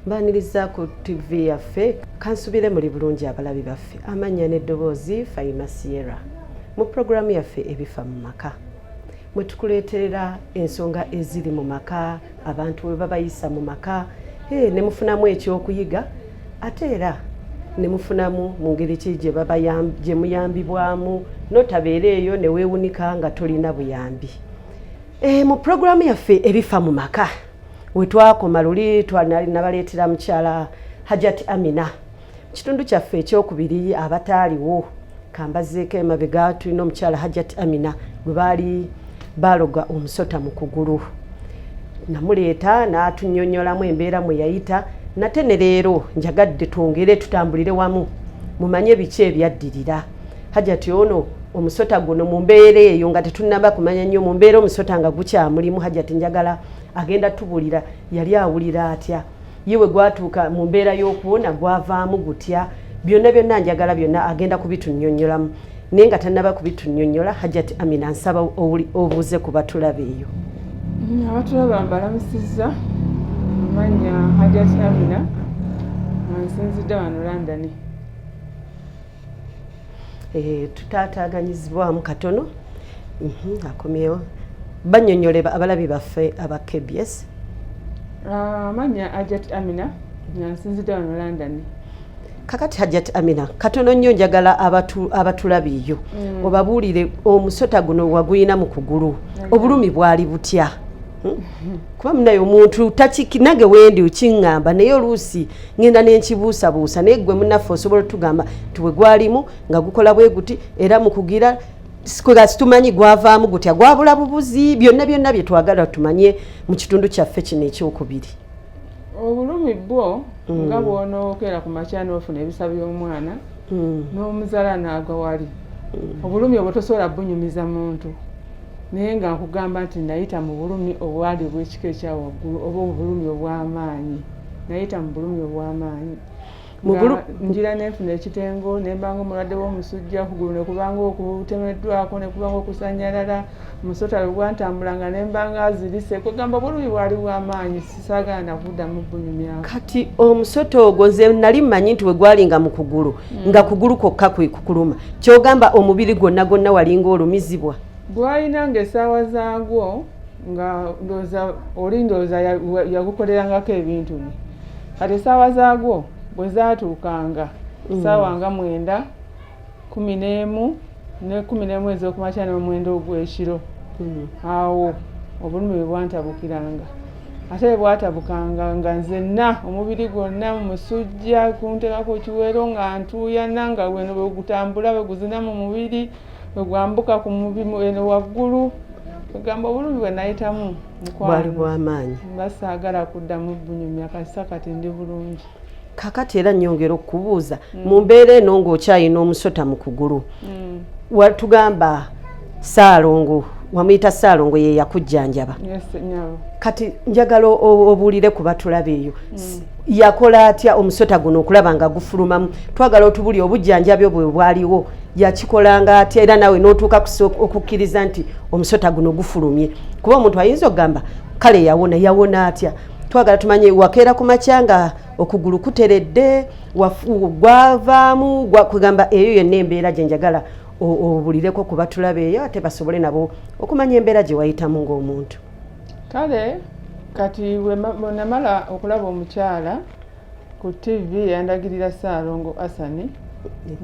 mbaniriza ku tv yaffe kansubire muli bulungi abalabi baffe amannya n'eddoboozi faima sierra mu pulogulaamu yaffe ebifa mu maka mwe tukuleeterera ensonga eziri mu maka abantu we babayisa mu maka hey, ne mufunamu ekyokuyiga ate era ne mufunamu mu ngeri ki gye muyambibwamu notabeera eyo ne weewunika nga tolina buyambi e, mu puroguramu yaffe ebifa mu maka we twakoma luli twanali nabaleetera mukyala hajati amina kitundu kyaffe ekyokubiri abataaliwo kambazeeko emabega tulina omukyala hajat amina gwe baali baaloga omusota mu kugulu namuleeta n'atunyonyolamu embeera mwe yayita nate ne leero njagadde twongere tutambulire wamu mumanye biki ebyaddirira hajati ono omusota guno mu mbeera eyo nga tetunnaba kumanya nnyo mu mbeera omusota nga gukyamulimu hajati njagala agenda tubulira yali awulira atya ye we gwatuuka mu mbeera y'okuwona gwavaamu gutya byonna byonna njagala byonna agenda kubitunnyonnyolamu naye nga tannaba kubitunnyonnyola hajati amina nsaba obuuze ku batulaba eyo mm, abatulaba mbalamusizza amanya hajati amina nsinzidde wano landani Eh, tutaataganyizibwamu katono mhm, akomyewo banyonyole abalabi baffe aba kbs ah, amanya ajat amina nsinzidde wano london kakati hajat amina katono nnyo njagala abatulabiiyo mm. obabuulire omusota guno waguyina mu kugulu obulumi bwali butya kuba munaye omuntu takinage wendi ukiŋŋamba naye oluusi ŋenda nenkibuusabuusa naye gwe munaffe osobola otugamba nti bwe gwalimu nga gukola bwe guti era mukugira nga situmanyi gwavaamu gutya gwabula bubuzi byonna byonna bye twagala tumanye mu kitundu kyaffe kino ekyokubiri obulumi bwo nga mm. bwonookera ku makya noofuna ebisa by'omwana mm. n'omuzala n'agwa wali mm. obulumi obwo tosobola bunyumiza muntu naye nga nkugamba nti nayita mu bulumi obwali obwekika ekya waggulu oba obulumi obw'amaanyi nayita mu bulumi obw'amaanyi njira nenfuna ekitengo nembanga omulwadde w'omusujja kugulu nekubanga okutemeddwako nekubanga okusanyalala musota lwegwantambulanga nembanga azirise kwegamba obulumi bwali bwamaanyi sisagaana kuddamu bunyumyako kati omusota ogwo nze nali mmanyi nti wegwalinga mu kugulu hmm. nga kugulu kwokka kwe kukuluma kyogamba omubiri gwonna gwonna walinga olumizibwa gwalina nga esaawa zaagwo nga ndooza oli ndooza yagukolerangako ebintu bye kati esaawa zaagwo bwe zaatuukanga hmm. saawa nga mwenda kumi n'emu ne kumi n'emu ez'okumakya n'omwenda ogw'ekiro hmm. awo obulumi bwe bwantabukiranga ate bwe bwatabukanga nga nzenna omubiri gwonna musujja kuntekako kiwero nga ntuuyana nga weno bwe gutambula bwe guzina mu mubiri bwe gwambuka ku mubimu eno waggulu egamba obulumi bwe nayitamu mukwano bwali bw'amaanyi nga saagala kuddamu bunyumya kasisa kati ndi bulungi kakati era nyongera okubuuza mm. mu mbeera eno ng'okyayina omusota mu kugulu mm. watugamba saalongo wamuyita saalongo ye yakujjanjaba yes, no. kati njagala obuulire ku batulaba eyo mm. yakola atya omusota guno okulaba nga gufulumamu twagala otubuli obujjanjabi obwe bwaliwo yakikolanga atya era naawe n'otuuka okukkiriza nti omusota guno gufulumye kuba omuntu ayinza okugamba kale yawona yawona atya twagala tumanye wakeera ku makya nga okugulu kuteredde gwavaamu kugamba eyo yenna embeera gye njagala obulireko kuba tulabeeyo ate basobole nabo okumanya embeera gye wayitamu ng'omuntu kale kati wenamala okulaba omukyala ku ttivi yandagirira Ssaalongo Asani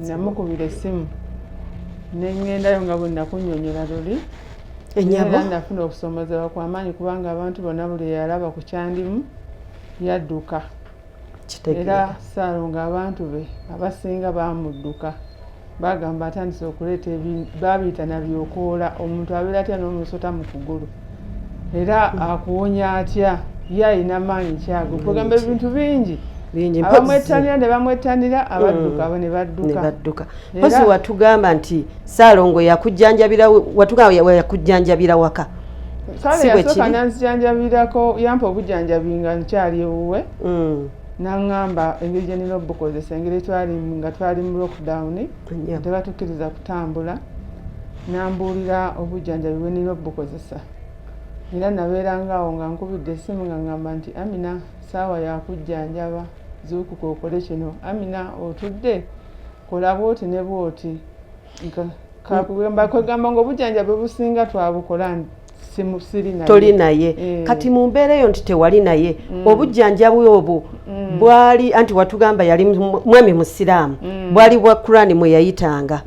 namukubira essimu ne ŋŋendayo nga bwe nakunnyonnyola luli era nafuna okusoomoozebwa kwa maanyi kubanga abantu bonna buli yalaba ku kyandimu yadduka era Ssaalongo abantu be abasinga baamudduka Bagamba atandise okuleeta babiyita nabyokoola omuntu abeera atya n'omusota mu kugulu era akuwonya atya ye alina maanyi kyago kwegamba ebintu bingi abamwettanira ne bamwettanira mm. abadduka abo ne badduka mpozi watugamba nti saalongo yakujjanjabira watugamba yakujjanjabira waka kale yasooka nanzijanjabirako yampa obujanjabi nga nkyali ewuwe mm. n'aŋŋamba engeri gye nnina obukozesa engeri etwali nga twali mu lockdown tebatukkiriza kutambula n'ambuulira obujjanjabi bwe nnina obukozesa era nabeeranga awo nga nkubidde essimu nga ŋŋamba nti amina saawa yakujjanjaba zuukuka okole kino amina otudde kola bwoti ne bwoti kakugamba kwegamba nga obujanjabi obusinga twabukola nti toli naye eh. kati mu mbeera eyo nti tewali naye mm. obujjanjabi obwo mm. bwali anti watugamba yali mwami musiraamu mm. bwali bwa kurani mwe yayitanga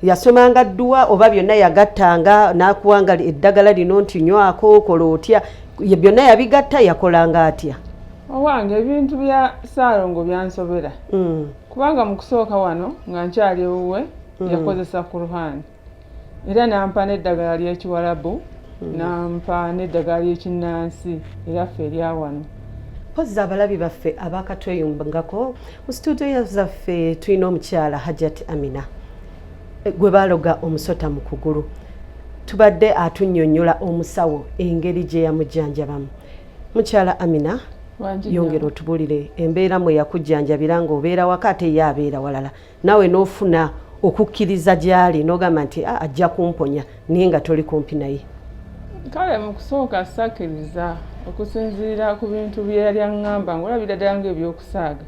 yasomanga dduwa oba byonna yagattanga n'akuwanga eddagala lino nti nywako okola otya byonna yabigatta yakolanga atya owange ebintu bya saalongo byansobera kubanga mu kusooka wano nga nkyali ewuwe hmm. yakozesa kuruhani era nampa n'eddagala ly'ekiwalabu hmm. nampa n'eddagala ly'ekinnansi era ffe erya wano mpozzi abalabi baffe abakatweyungako mu situdiyo zaffe tulina omukyala hajat amina eh, gwe baloga omusota mu kugulu tubadde atunyonyola omusawo engeri gye yamujjanjabamu mukyala amina yongera otubulire embeera mwe yakujjanjabira nga obeera waka ate ye abeera walala nawe n'ofuna okukkiriza gy'ali n'ogamba nti ah, ajja kumponya naye nga toli kumpi naye kale mu kusooka sakkiriza okusinziira ku bintu bye yali aŋŋamba ng'olabira ddala ng'ebyokusaaga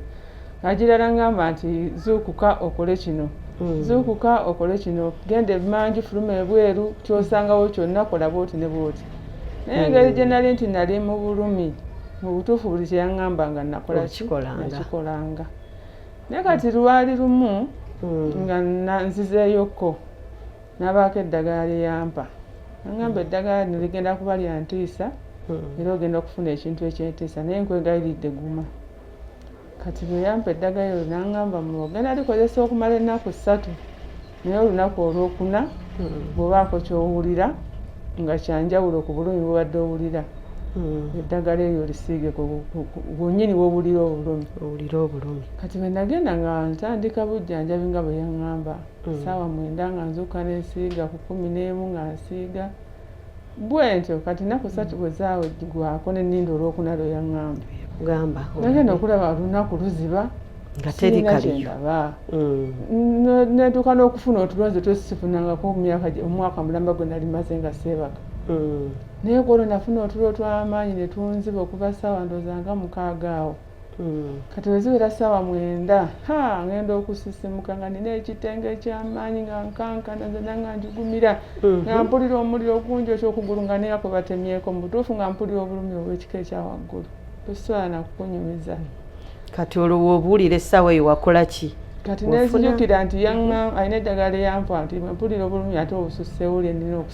Agirala ngamba nti zuukuka okole kino hmm. zuukuka okole kino genda emanju fuluma ebweru kyosangawo kyonna kola bwoti ne bwoti naye engeri hmm. gye nali nti nali mu bulumi mu butuufu buli kye yaŋŋamba nga nakolakikolanga naye kati lwali lumu hmm. nga nzizeeyokko nabaako eddagala lye yampa aŋŋamba eddagala lino ligenda kuba lya ntiisa era ogenda okufuna ekintu ekyentiisa naye nkwegayiridde guma kati bwe yampa eddagala eryo nangamba muwa genda likozesa okumala ennaku ssatu naye olunaku olwokuna hmm. bwebaako kyowulira nga kyanjawulo ku bulumi bubadde owulira hmm. eddagala eryo lisiige gwenyini wowulira obulumi owulira obulumi kati bwe nagenda nga ntandika bujjanjabi nga bwe yaŋŋamba hmm. saawa mwenda nga nzuuka nesiiga ku kumi n'emu nga nsiiga bwentyo kati naku satu bwe zaweggwaako ne ninda olwokuna lwe yaŋŋamba gamba nagenda okulaba olunaku luziba nga teri kaliyo mm. netuuka n'okufuna otulonzi twesifunangako omyaka omwaka mulamba gwe nali maze nga seebaka mm. naye kwolwo nafuna otulo twamaanyi ne tunziba okuva saawa ndooza nga mukaaga awo Hmm. kati weziwera saawa mwenda ha ngenda okusisimuka nga nina ekitenga ekyamaanyi nga nkankana zena nga njugumira hmm. nga mpulira omuliro ogungi okyokugulu nga neya kwe batemyeko mu butuufu nga mpulira obulumi obwekika ekyawaggulu tosobola nakukunyumiza kati olwowo obuwulira essaawa eyo wakola ki kati nenzijukira nti yanga alina eddagala eyampa nti mpulira obulumi ate obususewuli enina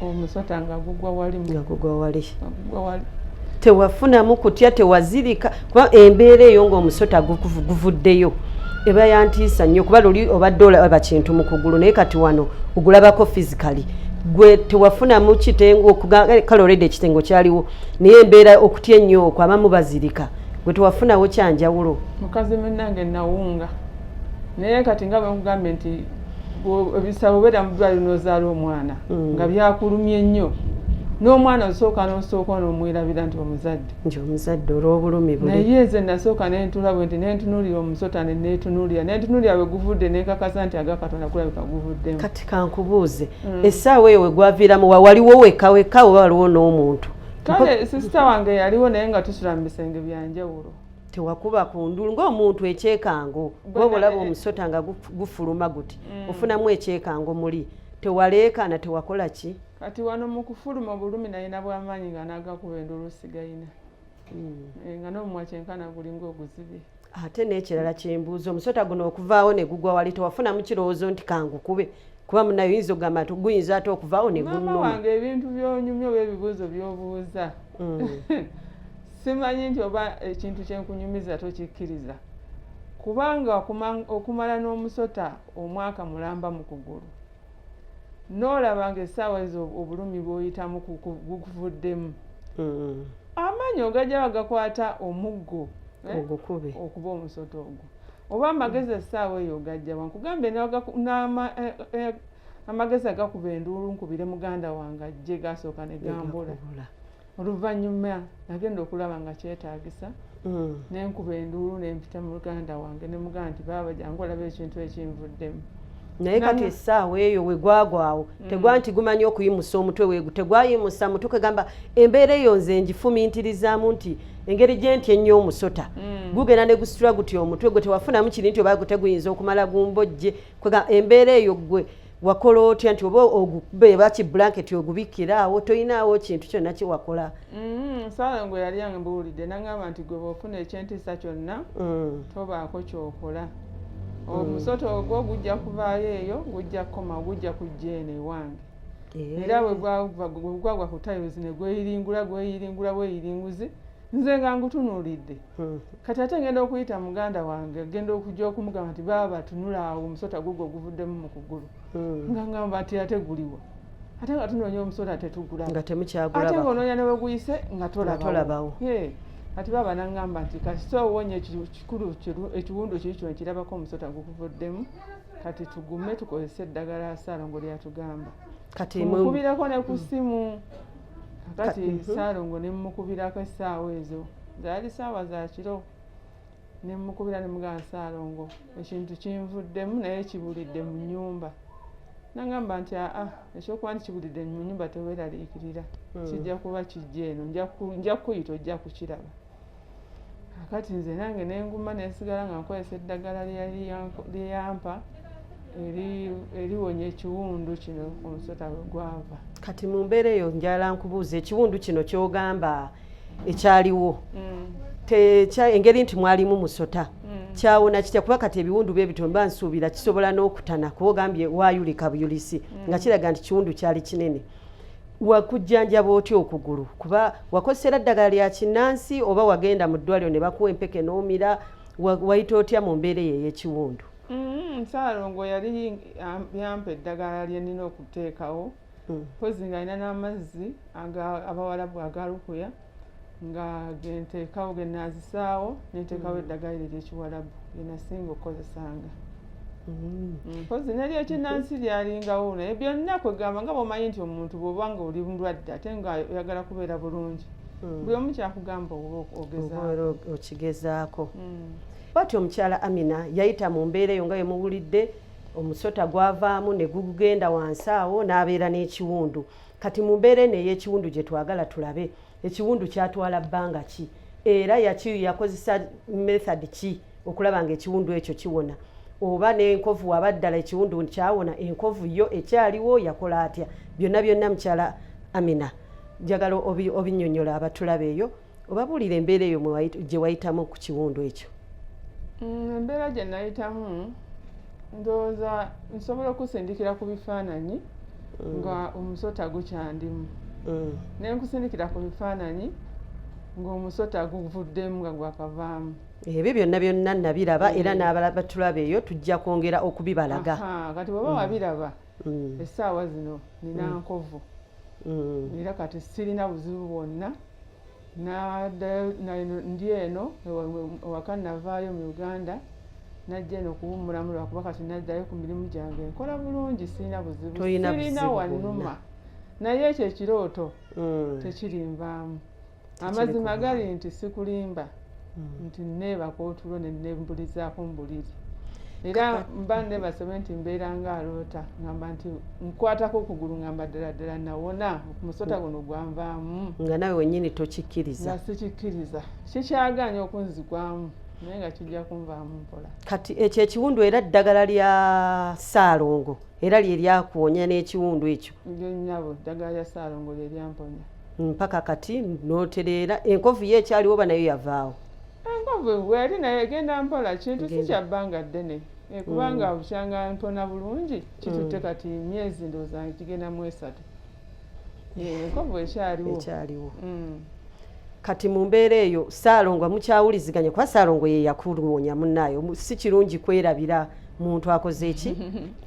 omusota nga gugwa wali nga gugwa wali gugwa wali tewafunamu kutya tewazirika kuba embeera eyo ng'omusota guvuddeyo eba yantiisa nnyo kuba luli obadde olaba kintu mu kugulu naye kati wano ogulabako physically gwe tewafunamu kitengo kale olede ekitengo kyaliwo naye embeera okutya ennyo okwo abamu bazirika gwe tewafunawo kyanjawulo mukazi munange nawunga naye kati nga bwekugambye nti ebisaba obeera mu ddwaliro n'ozaala omwana mm. nga byakulumye nnyo n'omwana osooka n'osooka n'omwerabira nti omuzadde nti omuzadde olw'obulumi buli naye nze nasooka nentula bwe nti nentunuulira omusota ne netunuulira nentunuulira bwe guvudde nenkakasa nti aga katonda kulabika guvuddemu kati kankubuuze mm. essaawa eyo we gwaviiramu wa waliwo weka weka oba waliwo n'omuntu kale sisita wange yaliwo naye nga tusula mu bisenge bya njawulo tewakuba ku ndulu ng'omuntu ekyekango gwoba olaba omusota nga gufuluma guti mm. ofunamu ekyekango muli tewaleekaana tewakola ki kati wano mu kufuluma obulumi nayina bwamaanyi nga nagakuba endulu osigayina mm. eh, nga n'omumwa kyenkana gulinga oguzibe ate n'ekirala kyembuuza omusota guno okuvaawo ne gugwa wali tewafunamu kirowoozo nti kangukube kuba munaye oyinza okugamba nti guyinza ate okuvaawo negunwange ebintu byonyumya oba ebibuuzo byobuuza mm. simanyi nti oba ekintu kyenkunyumiza tokikkiriza kubanga okumala n'omusota omwaka mulamba mu kugulu n'olaba nga essaawa ezo obulumi bwoyitamu gukuvuddemu mm. amaanyi ogajja bagakwata omuggo eh, okuba omusota ogwo oba amagezi essaawa eyo ogajja wankugambe eh, eh, amagezi agakuba enduulu nkubire muganda wange ajje gasooka ne gambula oluvannyuma nagenda okulaba nga kyetaagisa mm. nenkuba enduulu nempita muganda wange ne muganda nti baaba jangu olaba ekintu ekinvuddemu naye kati essaawa eyo wegwagwawo mm. tegwa nti gumanyi okuyimusa omutwe wegu tegwayimusa mutwe kwegamba embeera eyo nze ngifumintirizaamu nti engeri gyenti ennyo omusota mm. gugenda ne gusitula guti omutwe gwe tewafunamu kiri nti oba guteguyinza okumala gumbojje kwega embeera eyo gwe wakola otya nti oba ogubeeba ki bulanketi ogubikkiraawo tolinaawo kintu kyonna kyewakola mm, saala ngwe yali ambuulidde nagamba nti gwe bwofuna ekyentiisa kyonna mm. tobaako kyokola omusota ogwo gujja kuvaayo eyo gujja kukoma gujja kujja eno ewange eh. era wegwagwa ku tiles ne gweyiringula gweyiringula bweyiringuzi nze nga ngutunuulidde hmm. kati ate ngenda okuyita muganda wange genda okuja okumugamba nti baaba tunula awo omusota gugwo oguvuddemu mu kugulu hmm. nga ngamba nti ate guliwa ate nga tunoonya omusota tetugulaate nga onoonya neweguyise nga tolabawo kati baaba nangamba nti kasita owonye kikulu ekiwundu kiri kino kirabako omusota gukuvuddemu kati tugume tukozese eddagala saalongo lyatugamba mukubirako ne ku ssimu kati mhm. saalongo ne mumukubirako essaawa ezo zaali saawa za kiro ne mumukubira ne mugana saalongo ekintu kinvuddemu naye kibulidde mu nnyumba nagamba nti aa ekyokuba nti kibulidde mu nnyumba teweraliikirira hmm. kijja kuba kijja eno nja kukuyita ojja kukiraba kati nze nange nenguma nensigala nga nkozesa eddagala lyeyampa eliwonya ekiwundu kino omusota wegwava kati mu mbeera eyo njala nkubuuza ekiwundu kino kyogamba ekyaliwo mm. engeri nti mwalimu musota mm. kyawona kitya kuba kati ebiwundu bye bitomba nsuubira kisobola n'okutana kuba ogambye wayulika buyulisi mm. nga kiraga nti kiwundu kyali kinene wakujjanjaba otya okugulu kuba wakozesera ddagala lya kinnansi oba wagenda mu ddwaliro ne bakuwa empeke n'omira wayita otya mu mbeera eyo ey'ekiwundu mm-hmm. nsaalongo yali yampa eddagala lye nina okuteekawo mpozi mm. nga alina n'amazzi abawalabu agalukuya nga genteekawo genazisaawo nenteekawo mm. eddagala eryekiwalabu genasinga okukozesanga mm. mm, mpozi nali ekinansi lyalingawo naye byonna kwegamba nga bwomanyi nti omuntu bwoba nga oli mulwadde ate nga oyagala kubeera bulungi buli omu kyakugamba oba okigezaako bati omukyala amina yayita mu mbeera eyo nga yemuwulidde omusota gwavaamu ne gugenda wansi awo n'abeera n'ekiwundu kati mu mbeera eno ey'ekiwundu gye twagala tulabe ekiwundu kyatwala bbanga ki era yakiyu yakozesa method ki okulaba nga ekiwundu ekyo kiwona oba n'enkovu waba ddala ekiwundu kyawona enkovu yo ekyaliwo yakola atya byonna byonna mukyala amina njagala obinyonyola abatulabeeyo obabuulira embeera eyo gye wayitamu ku kiwundu ekyo mm, embeera gye nayitamu ndowooza nsobola okusindikira ku bifaananyi mm. nga omusota gukyandimu mm. ne nkusindikira ku bifaananyi ng'omusota guvuddemu nga gwakavaamu ebyo byonna byonna nabiraba era n'abalala batulaba eyo tujja kwongera okubibalaga kati bweba wabiraba essaawa zino nina nkovu era kati sirina buzibu bwonna Nadayo na eno ndi eno ewa- ewa- ewaka navaayo mu uganda najja eno okuwummulamu lwakuba kati naddayo ku mirimu gyange nkola bulungi sirina buzibu Toyina sirina buzibu wannuma naye ekyo ekirooto Mm. tekirinvaamu amazima gali nti sikulimba hmm. nti neebaka otulo nembulizaako mbuliri era mba nebasobe nti mbeera nga aloota ngamba nti nkwatako okugulu ngamba ddala ddala nawona omusota hmm. guno gwanvaamu nga nawe wenyini tokikkiriza nga sikikkiriza kikyagaanya okunzigwamu naye nga kijja kunvaamu mpola kati ekyo ekiwundu era ddagala lya saalongo era lye lyakuwonya n'ekiwundu ekyo ngenyabo ddagala lya saalongo lye lyamponya mpaka kati notereera enkovu ye ekyaliwo oba nayo yavaawo enkovu bweyali nayo egenda mpola kintu si kyabbanga ddene eh, kubanga mm. bukyanga mpona bulungi kitutte mm. kati myezi ndowooza kigenda mu esatu eh, enkovu ekyaliwo ekyaliwo mm. kati mu mbeera eyo saalongo mukyawuliziganya kuba saalongo ye yakuwonya munnaayo si kirungi kwerabira muntu akoze ki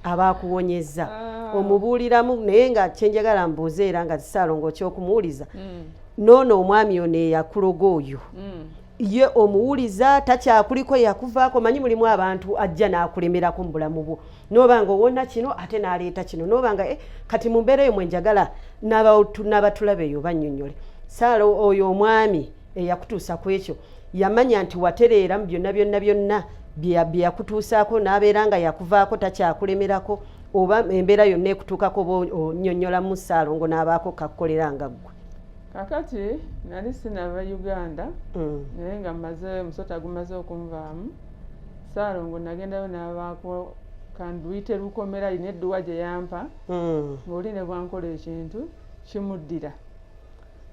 aba akuwonyezza ah. omubuuliramu naye nga kyenjagala mbuuze era nga zisaalongo kyokumuwuliza mm. noono omwami ono eyakuloga oyo mm. ye omuwuliza takyakuliko yakuvaako manyi mulimu abantu ajja n'akulemerako mu bulamu bwo nooba nga owona kino ate n'aleeta kino nooba nga eh, kati mu mbeera eyo mwenjagala n'abatulabeeyo bannyonnyole saala oyo omwami eyakutuusa ku ekyo yamanya nti watereera mu byonna byonna byonna bye yakutuusaako n'abeera nga yakuvaako takyakulemerako oba embeera yonna ekutuukako oba onyonnyolamu ssaalongo n'abaako kakukolera nga ggwe kakati nali sinava uganda mm. naye nga maze omusota gumaze okunvaamu ssaalongo nagendayo n'abaako kanduyite lukomera alina edduwa gye yampa mm. ng'oli ne bwankola ekintu kimuddira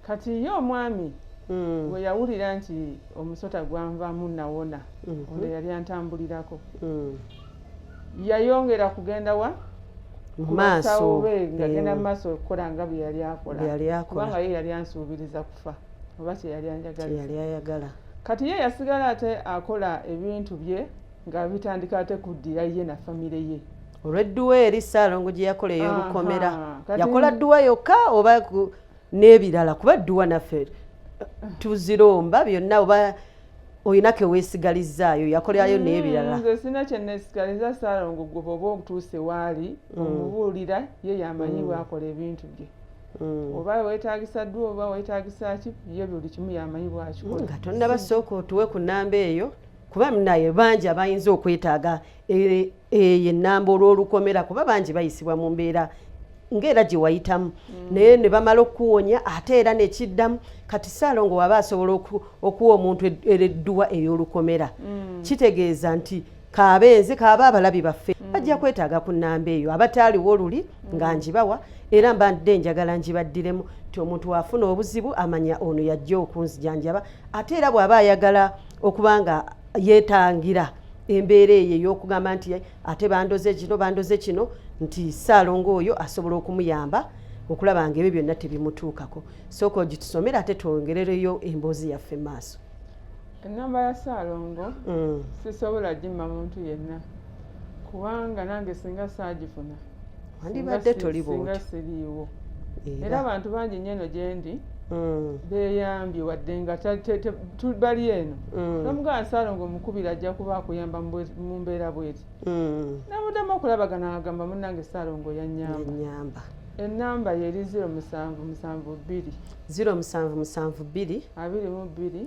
kati ye omwami mm. bwe yawulira nti omusota gwanvamu nawona mm-hmm. ono yali antambulirako mm. yayongera kugenda wa maaso be ngagenda mu maaso okukola nga bwe yali akola kubanga ye yali ansuubiriza kufa oba kyeyali anjagayali ayagala kati ye yasigala ate akola ebintu bye nga bitandika ate kuddira ye na famire ye olwedduwa eri saalongo gye yakola ey'olukomera yakola dduwa yokka oba n'ebirala kuba dduwa naffe tuziromba byonna oba olina keweesigalizzaayo yakolerayo mm, n'ebirala nze sina kyeneesigaliza saalongo gwe bwoba otuuse waali mm. omubuulira ye yamanyi mm. bwakola ebintu bye Mm. oba wetagisa ddu oba wetagisa ki ye buli kimu yamanyi bwakikola nga tonnabasooka otuwe ku namba eyo kuba munaye bangi abayinza okwetaaga eh, eyo ennamba olw'olukomera kuba bangi bayisibwa mu mbeera ngaera gye wayitamu mm. naye ne bamala okukuwonya ate era nekiddamu kati saalongo waba asobola okuwa omuntu eredduwa ey'olukomera mm. kitegeeza nti kabenze kaaba abalabi baffe mm. bajja kwetaaga ku nnamba eyo abataaliwo oluli nga njibawa era mbadde njagala njibaddiremu nti omuntu waafuna obuzibu amanya ono yajja okunzijanjaba ate era bw'aba ayagala okuba nga yeetangira embeera eyo ey'okugamba nti ate bandoze kino bandoze kino nti ssaalongo oyo asobola okumuyamba okulaba nga ebyo byonna tebimutuukako sooka ogitusomera ate twongerereyo emboozi yaffe mu maaso ennamba ya ssaalongo mm. sisobola gimma muntu yenna kubanga nange singa saagifuna wandibadde toli bwoti siriiwo era abantu bangi nnyo eno gyendi mm. beyambye wadde nga bali eno mm. nomugana nsaalo nga omukubira ajja kuba akuyamba mu mbeera bweti mm. nabudamu okulabagana agamba munange saalo nga oyanyamba enamba yeri 0772 0772 22 22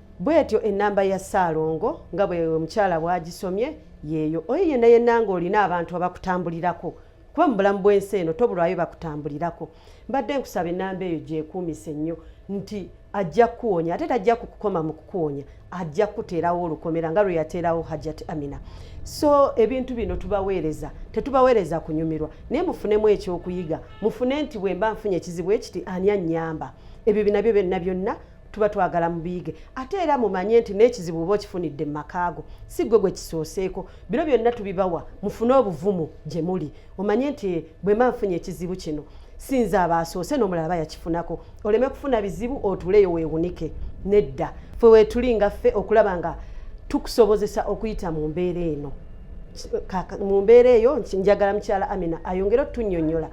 bwetyo enamba ya ssaalongo nga bwe omukyala bwagisomye yeeyo oyo yenna yenna nga olina abantu abakutambulirako kuba mu bulamu bw'ensi eno tobulwayo bakutambulirako mbadde nkusaba enamba eyo gyekuumise nnyo nti ajja kukuwonya ate tajja kukukoma mu kukuwonya ajja kukuteerawo olukomera nga lwe yateerawo hajat amina so ebintu bino tubaweereza tetubaweereza kunyumirwa naye mufunemu ekyokuyiga mufune nti bwe mba nfunye ekizibu ekiti ani annyamba ebyo binabyo byonna byonna tuba twagala mubiyige ate era mumanye nti n'ekizibu oba okifunidde mu makaago si gwe gwe kisooseeko bino byonna tubibawa mufune obuvumu gye muli omanye nti bwe mba nfunye ekizibu kino sinza abaasoose n'omulala bayakifunako oleme kufuna bizibu otuleyo weewunike nedda fe weetuli nga ffe okulaba nga tukusobozesa okuyita mu mbeera eno mu mbeera eyo njagala mukyala amina ayongere otunyonyola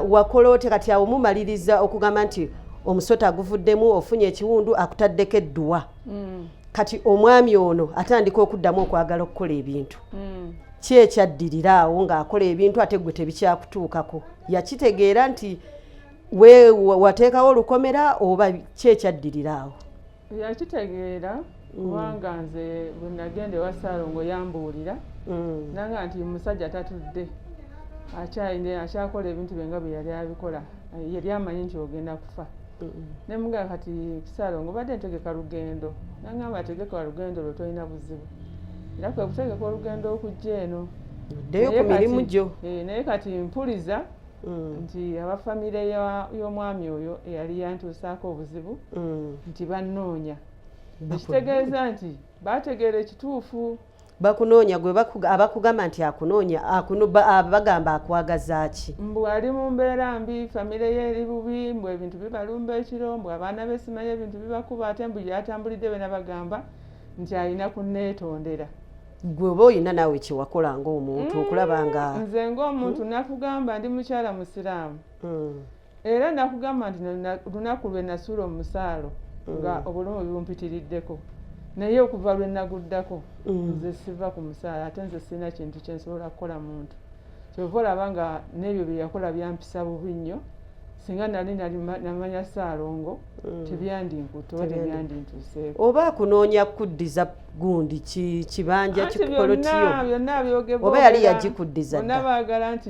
wakola ote kati awo mumaliriza okugamba nti omusota aguvuddemu ofunye ekiwundu akutaddeko edduwa mm. kati omwami ono atandika okuddamu okwagala okukola ebintu mm. ki ekyaddirira awo ng'akola ebintu ate gwe tebikyakutuukako yakitegeera nti wateekawo olukomera oba ki ekyaddirira awo yakitegeera mm. kubanga nze bwe nagenda ewa saalongo yambuulira mm. nanga nti musajja tatudde akyayine akyakola ebintu byenga bwe yali abikola yali amanyi nti ogenda kufa ne mugamba kati saalongo badde ntegeka lugendo nangamba tegeka lugendo lwe tolina buzibu era kwe kutegeka olugendo okujja eno ddeyo ku mirimu gyo eh, naye kati mpuliza mm. nti aba famire y'omwami oyo eyali yantuusaako obuzibu mm. nti bannoonya ekitegeeza nti baategeera ekituufu bakunoonya gwe abakugamba nti akunoonya bagamba akwagaza ki mbu ali mu mbeera mbi famire ye eri bubi mbu ebintu bibalumba ekiro mbu abaana be simanyi ebintu bibakuba ate mbu yatambulidde bena bagamba nti alina kuneetondera gwe oba olina naawe kyewakola ngaomuntu mm, okulaba nga nze ngaomuntu hmm? nakugamba ndi mukyala musiraamu hmm. era nakugamba nti lunaku lwe nasuula omusaalo hmm. nga obulamu bibumpitiriddeko naye okuva lwe naguddako nze siva ku musaalo ate nze sirina kintu kyensobola kukola muntu kyova olaba nga n'ebyo byeyakola byampisa bubi nnyo singa nali namanya saalongo mm. tebyandinkutoba tebyandintuseeko oba akunoonya kuddiza gundi kibanja kikolotiyo oba yali yagikuddiza dda baagala nti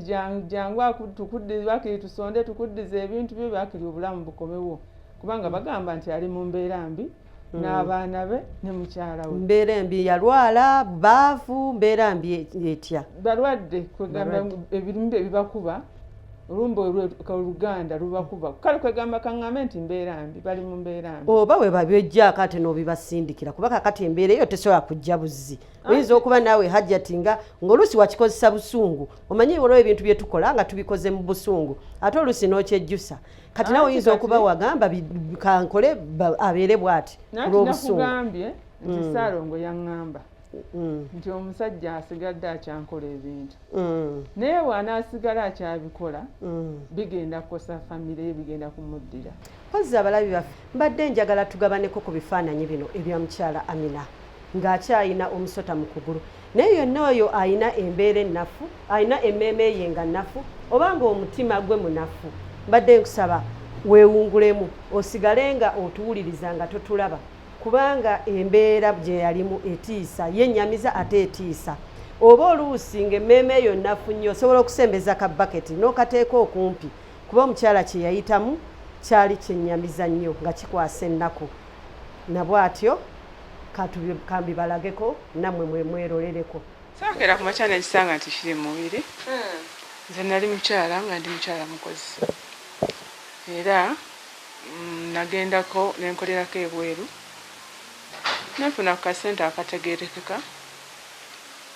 jangu tukuddize bakiri tusonde tukuddize ebintu byo bakiri obulamu bukomewo kubanga bagamba nti ali mu mbeera mbi hmm. n'abaana be ne mukyala we mbeera embi yalwala baavu mbeera mbi etya balwadde kwegamba ebirimu bye bibakuba olumbe oluganda lubakuba kale kwegamba kaŋŋambe nti mbeera mbi bali mu mbeera mbi oba we babyojjaako ate n'obibasindikira kuba kakati embeera eyo tesobola kujja buzzi ah. oyinza okuba naawe hajjati nga ng'oluusi wakikozesa busungu omanyi olwo ebintu bye tukola nga tubikoze mu busungu ate oluusi n'okyejjusa kati nawe oyinza okuba wagamba kankole abeere bwati olw'obusungu nti mm. saalongo yaŋŋamba mm. nti omusajja asigadde akyankola ebintu mm. naye bwanasigala akyabikola mm. bigenda kukosa famire ye bigenda kumuddira kozzi abalabi baffe mbadde njagala tugabaneko ku bifaananyi bino ebya mukyala amina ng'akyalina omusota mu kugulu naye yonna oyo alina embeera ennafu alina emmeeme ye nga nnafu oba ng'omutima gwe munafu mbadde nkusaba weewungulemu osigale nga otuwuliriza nga totulaba kubanga embeera gye yalimu etiisa yennyamiza ate etiisa oba oluusi ng'emmeeme eyo nnafu nnyo osobola okusembeza ka baketi n'okateeka okumpi kuba omukyala kye yayitamu kyali kyennyamiza nnyo nga kikwasa ennaku na bw'atyo kambibalageko nammwe mwe mweroleleko sakeera ku makya nekisanga nti kiri mu mubiri hmm. nze nali mukyala nga ndi mukyala mukozi era Nagendako ne nkolerako ebweru ne nfuna ku kasente akategeerekeka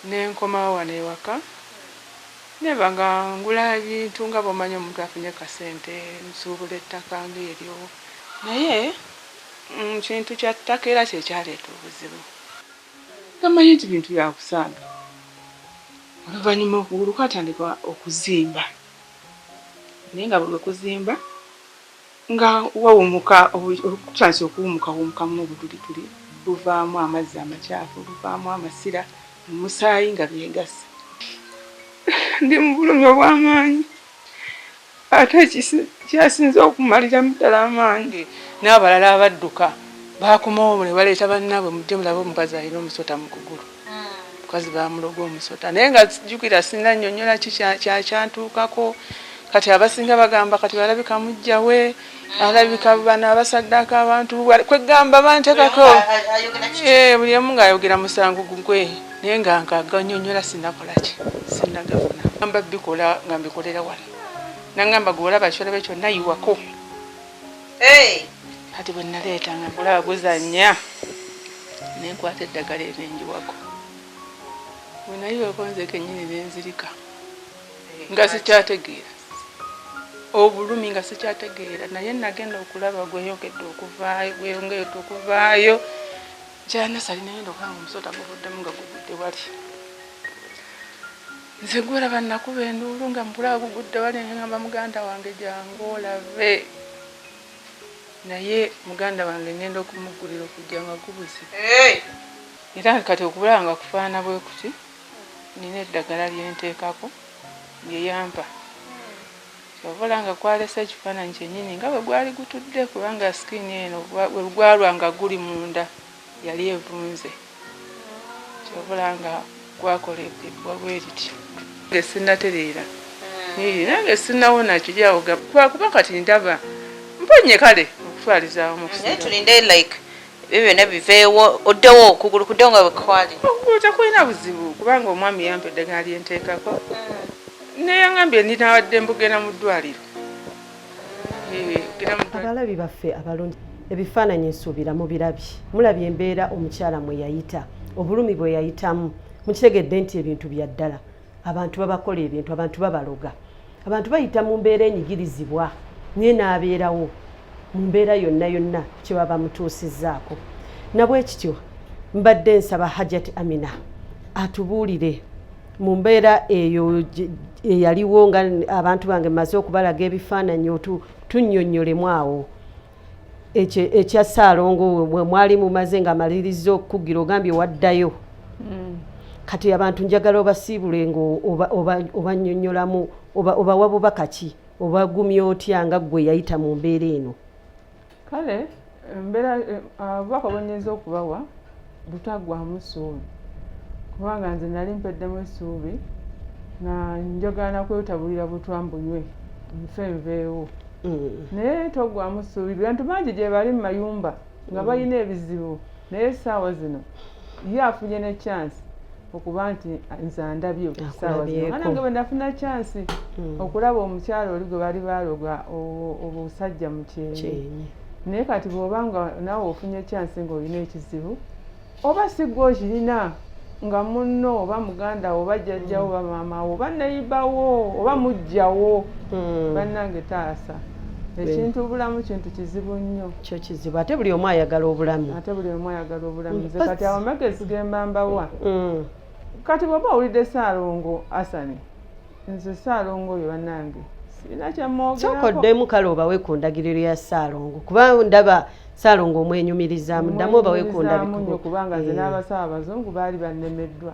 ne nkomawo wano ewaka ne mba nga ngula ebintu nga bw'omanyi omuntu afunye ku kasente nsuubula ettaka ng'eryo naye ekintu kya ttaka era kye kyaleeta obuzibu nga mmanyi nti bintu bya kusaaga. Oluvannyuma okugulu kwatandika okuzimba naye nga buli lwe kuzimba. Nga wawumuka okutandise okuwumukawumukamu obutulituli buvaamu amazzi amakyafu, buvaamu amasira mu musaayi nga byegasse. Ndi mu bulumi obw'amaanyi ate ekyasinze okumaliramu ddala amaanyi n'abalala abadduka baakomawo ne baleeta bannaabwe mujje mulabe omukazi alina omusota mu kugulu. mukazi bamuloga omusota naye nga jukira sina nyonyola kyakyantuukako kati abasinga bagamba kati balabika mujjawe alabika bano abasaddaka abantu kwegamba bantekako buli omu ngaayogera musango gugwe naye nga nkaganyonyola sinakolaki sinagafuna amba bikola nga mbikolera wano nangamba gwe olaba kyolabe kyonna yiwako kati bwe naleeta nga gulaba guzannya ne nkwata eddagala erinjiwako bwe nayiweko nze kennyini ne nzirika nga sikyategeera obulumi nga sikyategeera naye nagenda okulaba gweyongedde okuvaayo gweyongedde okuvaayo kyanasali nagenda okulaba nga omusota guvuddemu nga guvudde wali Nze gwolaba nakuba enduulu nga mpula agugudde wali ngamba muganda wange jangu olabe naye muganda wange ngenda okumugulira okujja nga gubuze era kati okubulaba nga kufaana bwe kuti nina eddagala lyenteekako lyeyampa obola nga kwalesa ekifaananyi kyenyini nga bwe gwali gutudde kubanga sikini eno wegwalwa nga guli munda Yali evunze kyovula nga gwakoledde wabweriti nge sinatereera hmm. nange sinawona kiri awo gwakuba kati ndaba mponye kale okutwaliza awamu tulinde like ebyo byonna biveewo oddewo okugulu kudde nga wekwali okugulu tekulina buzibu kubanga omwami yampa eddagala lyenteekako hmm. neyangambye ndinawadde mbugenda mu ddwaliro abalabi baffe abalungi ebifaananyi nsuubira mubirabye mulabye embeera omukyala mwe yayita obulumi bwe yayitamu mukitegedde nti ebintu bya ddala abantu babakola ebintu abantu babaloga abantu bayita mu mbeera enyigirizibwa naye n'abeerawo mu mbeera yonna yonna kyeba bamutuusizzaako nabwekityo mbadde nsaba hajati amina atubuulire mu mbeera eyo eyaliwo nga abantu bange maze okubalaga ebifaananyi otu tunnyonnyolemu awo ekya ssaalongo we mwali mumaze nga amaliriza okukugira ogambye waddayo hmm. kati abantu njagala obasiibule nga obanyonyolamu obawa bubaka ki obagumya otya nga ggwe yayita mu mbeera eno kale mbeera obubaka bwenyinza okubawa butaggwamu ssuubi kubanga nze nali mpeddemu essuubi nga njogana kwetabulira butwa mbunywe nfe nveewo mm. naye toggwamu ssuubi bantu bangi gye bali mu mayumba nga mm. balina ebizibu naye essaawa zino ye afunye ne chance okuba nti nze andabye okusaawazanange bwe nafuna kyansi hmm. okulaba omukyalo oli gwe bali baaloga obusajja mu kyenyi naye kati bw'oba nga naawe ofunye kyansi ng'olina ekizibu oba sigwa okirina nga munno oba muganda oba jjajjawo oba maamawo oba neyibawo oba mujjawo hmm. bannange taasa ekintu obulamu kintu kizibu nnyo kyo kizibu ate buli omu ayagala obulamu ate buli omu ayagala obulamu mm. nze kati awo magezi gemba mbawa mm. kati bwoba owulidde saalongo asani nze saalongo oyo banange kyokoddemu kale obawe ku ndagiriro ya saalongo kuba ndaba saalongo omwenyumirizamu ddamu obawe ku ndabikubo kubanga nze eh. n'abasawo abazungu baali bannemeddwa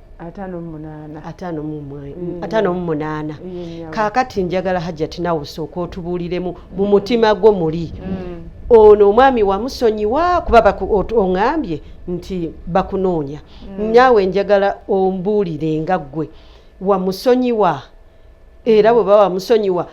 ataano mu munaana kaakati njagala hajjati nawe osooka otubuuliremu mu mutima gwo muli mm. ono omwami wamusonyiwa kuba oŋambye nti bakunoonya mm. naawe njagala ombuulire nga ggwe wamusonyiwa era bwe baba wamusonyiwa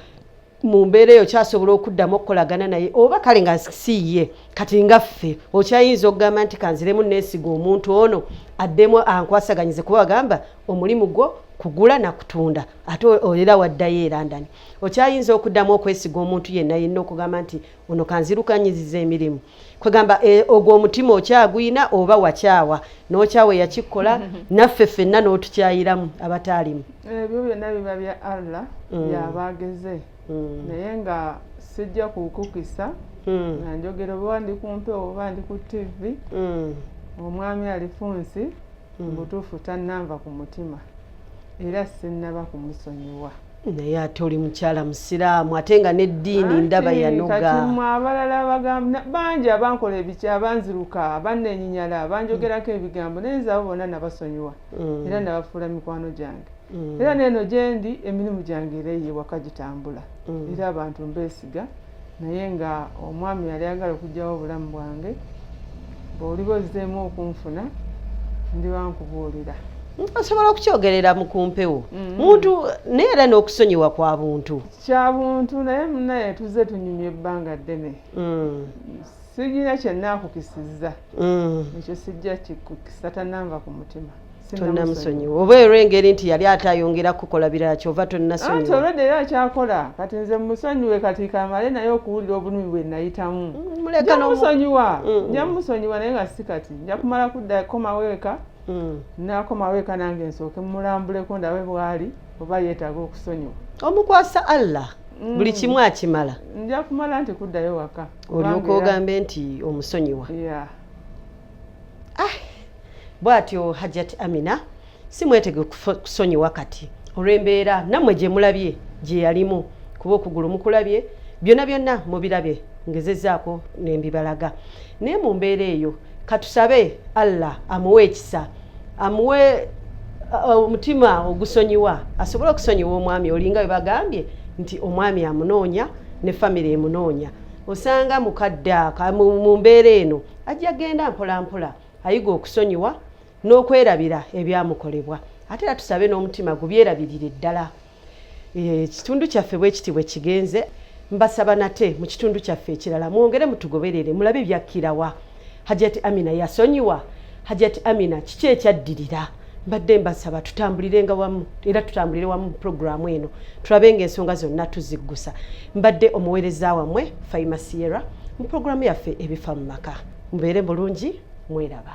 mu mbeera eyo kyasobola okuddamu okukolagana naye oba kale nga siye kati nga ffe okyayinza okugamba nti kanziremu neesiga omuntu ono addemu ankwasaganyize kuba wagamba omulimu gwo kugula na kutunda ate era waddayo e london okyayinza okuddamu okwesiga omuntu yenna yenna okugamba nti ono kanzirukanyiziza emirimu kwegamba e, ogwo omutima okyagwina oba wakyawa nokyawa eyakikola naffe fenna notukyayiramu abataalimu ebyo byonna biba bya allah mm. yabageze mm. naye nga sijja kukukisa mm. nga njogera oba ndi kumpewo oba ndi ku tivi omwami alifunsi mubutuufu tannanva ku mutima era sinnaba kumusonyiwa naye ate oli mukyala musiraamu ate nga n'eddiini ndaba yanogakatimu abalala bagamba bangi abankola ebiki abanziruka abanenyinyala banjogerako mm. ebigambo naye nze abo bonna nabasonyiwa mm. era nabafuula mikwano gyange mm. era neeno gyendi emirimu gyange era eyewaka gitambula era abantu mbeesiga naye nga omwami yali agala okugyawo obulamu bwange bwoliba ozzeemu okunfuna ndiba nkubuulira osobola okukyogerera mu kumpewo mm-hmm. muntu naye era n'okusonyiwa kwa buntu kya buntu naye munaye tuzze tunyumya ebbanga ddene mm. sirina kyenaakukisizza mm. ekyo sijja kikukisa tananva ku mutima tonnamusonyiwa oba era engeri nti yali ate ayongera kukola birala kyova tonnasonyiwa olwedde era akyakola kati nze musonyiwe kati kamale naye okuwulira obulumi bwe nayitamu mm, njamusonyiwa mm. njamusonyiwa naye nga si kati nja kumala kudda komaweeka mm. nakomaweeka nange nsooke mulambuleko ndabe bwali oba yeetaaga okusonyiwa omukwasa allah Mm. buli kimu akimala nja kumala nti kuddayo waka olyoka ogambe nti omusonyiwa ah, bwatyo hajjati amina si mwetege kusonyiwa kati olw'embeera nammwe gye mulabye gye yalimu kuba okugulu mukulabye byonna byonna mubirabye ngezezaako nembibalaga naye mu mbeera eyo katusabe allah amuwe ekisa amuwe uh, omutima ogusonyiwa asobole okusonyiwa omwami olinga bwe bagambye nti omwami amunoonya ne famiry emunoonya osanga mukadde aka mu mbeera eno ajja genda mpolampola ayiga okusonyiwa n'okwerabira ebyamukolebwa ate era tusabe n'omutima gubyerabirire ddala eh, ekitundu kyaffe bwe kiti bwe kigenze mbasaba nate mu kitundu kyaffe ekirala mwongere mutugoberere mulabe byakkirawa hajati amina yasonyiwa hajati amina kiki ekyaddirira mbadde mbasaba tutambulirenga wamu era tutambulire wamu puroguramu eno tulabe nga ensonga zonna tuziggusa mbadde omuweereza wammwe faima sierra mu puroguramu yaffe ebifa mu maka mubeere bulungi mweraba